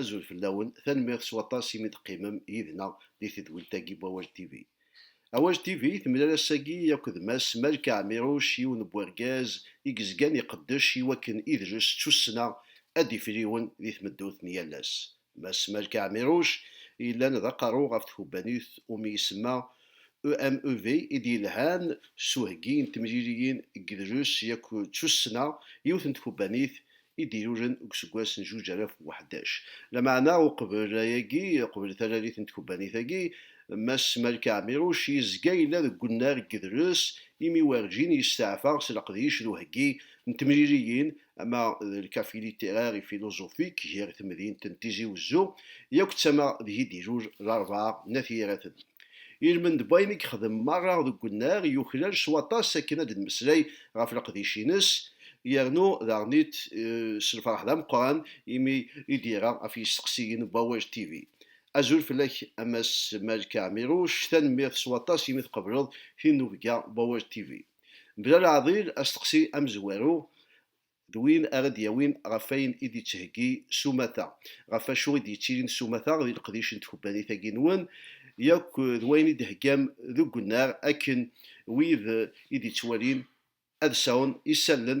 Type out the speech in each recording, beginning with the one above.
Azul fell-awen, tanemmirt s waṭas imi d-qqimem yid-neɣ di tedwilt-agi n Wawal TV. Awal TV temlal ass-agi akked Mass Malka Ɛmiruc, yiwen n wergaz i yezgan iqeddec i wakken idles d tussna ad d-ifriwen di tmeddurt n yal ass. Mass Malka Ɛmiruc yellan d aqerru ɣef tkubbanit umi isemma EMEV i d-yelhan s uheggi n temliliyin deg yidles yak d tussna, yiwet n tkubbanit i d-ilulen deg useggas n zuǧ alaf u ḥdac. Lameɛna uqbel ayagi, uqbel talalit n tkubbanit-agi, Mass Malka Ɛmiruc yezga yella deg unnar n yidles imi werǧin yesteɛfa s leqdic d uheggi n temliliyin ama d lkafi littéraire et philosophique gar temdint n Tizi Wezzu yakk d tama deg i d-ilul larebɛa n At Yiraten. Ilmend n wayen i yexdem merra deg unnar yuklal s waṭas akken ad d-nemmeslay ɣef leqdic-ines, yernu daɣen-it s lferḥ d ameqqran imi i d-yerra ɣef yisteqsiyen n Wawal TV. Azul fell-ak a Mass Malka Ɛmiruc, tanemmirt s waṭas imi tqebleḍ tinubga n Wawal TV. Mebla leɛḍil, asteqsi amezwaru d win ara d-yawin ɣef wayen i d-yettheggi s umata, ɣef wacu i d-yettilin s umata di leqdic n tkebbanit-agi-nwen yakk d wayen i d-theggam deg unnar akken wid i d-yettwalin ad sɛun isallen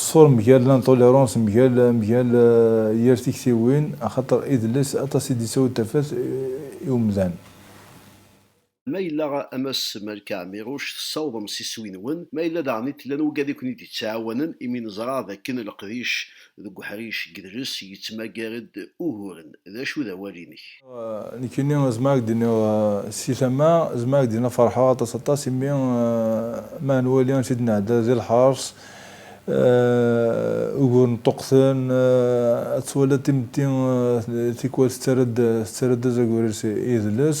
Ṣṣur mgal l'intolérance mgal mgal yir tiktiwin axaṭer idles aṭas i d-yettawi tafat i umdan. Ma yella a Mass Malka Ɛmiruc tessawḍem s iswi-nwen, ma yella daɣen i tella nugad i ken-id-yettɛawanen imi neẓra d akken leqdic Deg uḥric deg dres yettmagar-d uguren. D acu d awal-inek? Nekkini zemreɣ ad k-d-iniɣ si tama, zemreɣ ad k-d-iniɣ ferḥeɣ aṭas aṭas imi ma nwali amek i d-nɛedda di lḥers, uguren ṭṭuqten, ad twaliḍ timetti tikwal tettarra-d azagur-is idles.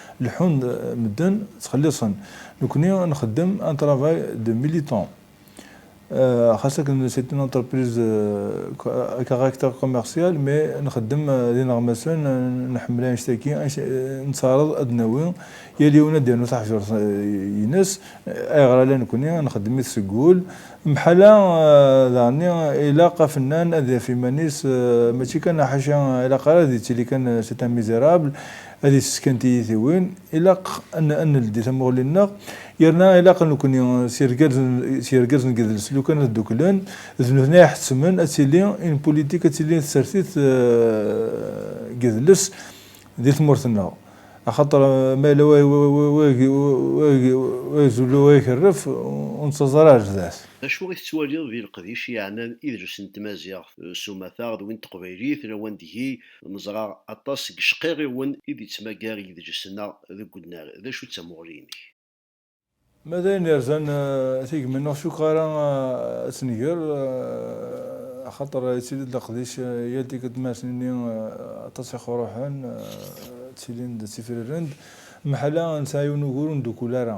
Leḥḥun medden ttxelliṣen, nekni a nxeddem un travail de militant. Xas akken c'est une entreprise à caractère commercial mais nxeddem d ineɣmasen, nḥemmel annect-agi, nettaɛraḍ ad d-nawi, yal yiwen ad d-yernu taḥjurt ines, ayɣer ala nekni, nxeddem-it seg wul, mḥala daɣenni ilaq afennan ad yaf iman-is mačči kan ḥaca ilaq ara ad yettili kan c'est un misérable, Ad ifesken tiyitiwin, ilaq ad neldi tamuɣli-nneɣ, yerna ilaq nekkni s yirgazen n yidles lukan ad dduklen, d nutni ay iḥettmen ad tili une politique, ad tili tsertit n yidles di tmurt-nneɣ, axaṭer ma yella wa izul wa ikerref, ur nettaẓ ara ɣer sdat. D acu i tettwaliḍ di leqdic yeɛnan idles n tmaziɣt s umata d win n teqbaylit lawan deg-i Neẓra aṭas n yecqirriwen i d-yettmagar yedlisen-a deg unnar. D acu d tamuɣli-inek? Ma d ayen yerzan tigmi-nneɣ cukkeɣ ara ad tt-nger, axaṭer yettili-d leqdic yal tikkelt mi ara s-nini aṭas iqruḥen ttilin-d ttifrirren-d, meḥala nesɛa yiwen ugur ur ndukkul ara.